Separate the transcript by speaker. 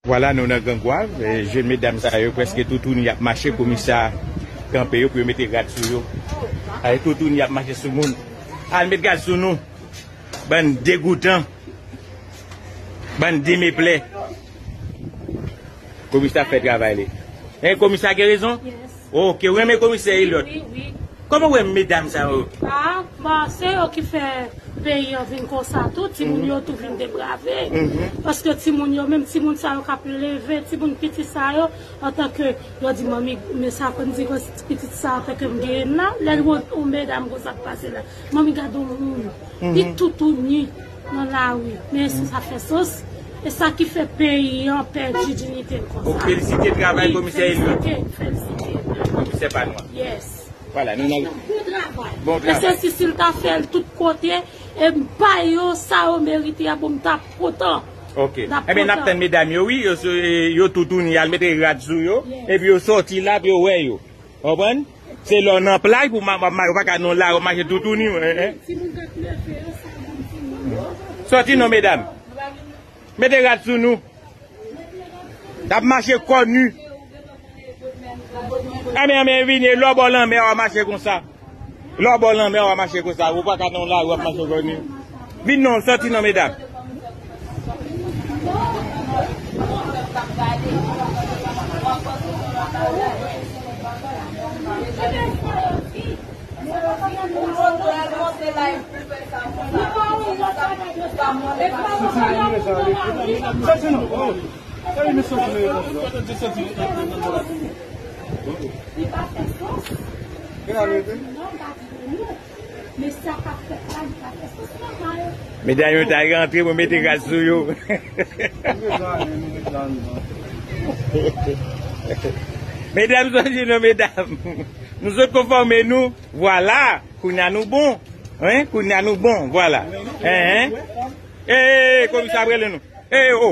Speaker 1: Vwala nou nan Gran Gwav, jèn medam sa yo prèske toutouni y ap mache komisa kanpe yo pou yo mete rad sou yo. Gade toutouni y ap mache sou moun. Al met rad sou nou, bann degoutan, bann demeplè. Komisa fè travay li. Komisa gen rezon? Oh kew renmen
Speaker 2: komisè
Speaker 1: Eliot Koman ou wè
Speaker 2: medam
Speaker 1: sa yo. Ah bon
Speaker 2: se yo ki fè peyi an vin konsa tou timoun yo tou vin deprave paske timoun yo menm timoun sa yo kap leve timoun piti sa yo antanke yo di manmi men sa fèm di pitit sa antanke m genyenn la lèl wè yon medam konsa k pase la manmi gad yon moun li toutouni. nan lari men sou zafè sos e sa ki fè peyi an pèdi dinite l konsa. Ok felisite travay komisè
Speaker 1: Eliot. Wi felisite felisite.
Speaker 2: Komisè pa nou
Speaker 1: an. Yes. Wala
Speaker 2: nou nan. Bon
Speaker 1: travay. Bon travay.
Speaker 2: Mesye si si l ta fè l tout kote e m ba yo sa yo merite a bon m ta kontan. Ok. N ap kontan. Eben
Speaker 1: n ap tann medam yo wi yo toutouni al mete rad sou yo epi yo soti la pou yo wè yo. Konprann? Se lè w nan plaj pou ma wap mache, ou pa ka nan lari wap mache toutouni w. Ehe. Sòti non medam. Mete rad sou nou. Nap mache kò nu. Anmè anmè vini lò bò lanmè wap mache konsa. Lè w bò lanmè w ap mache konsa, ou pa ka nan yon lari w ap mache konsa. Vin non, sòti non medam. Li pa fè sans. Sa a di non li pa disponible. Men sa k ap fèt la li pa fè sans nòmal. Medam yo ta rantre pou mete gaz sou yo. Medam sa di non medam. Nou sot konfòme nou. Vwala kounye a nou bon. Kounye a nou bon. Vwala. Eee komisè ap rele nou. Eee o.